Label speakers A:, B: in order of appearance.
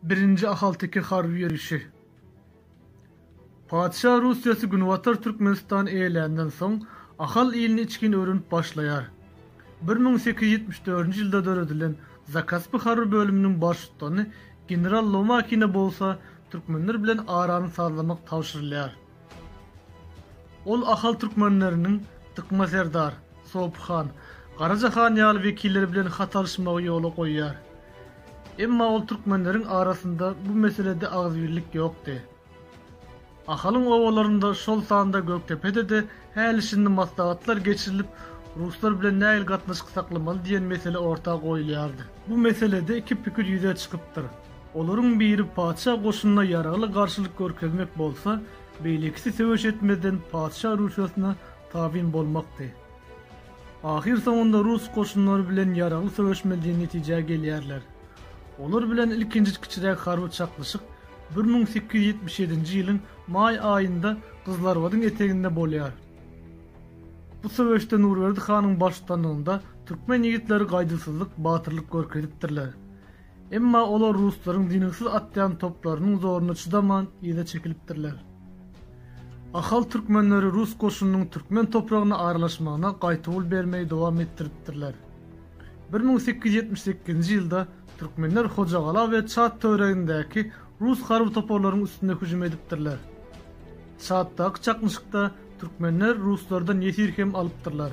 A: Birinji ahalteke harby ýörişi. Patyşa Russiýasy Günbatar Türkmenistany eýeländen soň, Ahal ilini içgin öwrenip başlaýar. Bir müň sekiz ýüz ýetmiş dördünji ýylda döredilen Zakaspy harby bölüminiň baştutany general Lomakine bolsa türkmenler bilen arany sazlamak tabşyrylýar. Ol Ahal türkmenleriniň Dykma serdar, Sopy han, Garaja han ýaly wekilleri bilen hat alyşmagy ýola goýýar. Emma ol türkmenleriň arasynda bu meselede agzybirlik ýokdy. Ahalyň obalarynda, şol sanda Gökdepede-de häli-şindi maslahatlar geçirilip, ruslar bilen nähili gatnaşyk saklamaly diýen mesele orta goýulýardy. Bu meselede iki pikir ýüze çykypdyr. Olaryň biri patyşa goşunyna ýaragly garşylyk görkezmek bolsa, beýlekisi söweş etmezden patyşa rüşwetine tabyn bolmakdy. Ahyrsoňunda rus goşunlary bilen ýaragly söweşmeli diýen netijä gelýärler. Olar bilen ilkinji kiçiräk harby çaknyşyk bir müň sekiz ýüz ýetmiş ýedinji ýylyň maý aýynda Gyzylarbadyň eteginde bolýar. Bu söweşde Nurberdi hanyň baştutanlygynda türkmen ýigitleri gaýduwsyzlyk, batyrlyk görkezipdirler. Emma olar ruslaryň dynyksiz atýan toplarynyň zoruna çydaman yza çekilipdirler. Ahal türkmenleri rus goşunynyň türkmen topragyna aralaşmagyna gaýtawul bermegi dowam etdiripdirler. Bir müň sekiz ýüz ýetmiş sekizinji ýylda türkmenler Hojagala we Çad töweregindäki rus harby toparlaryň üstüne hüjüm edipdirler. Çaddaky çaknyşykda türkmenler ruslardan ýesir hem alypdyrlar.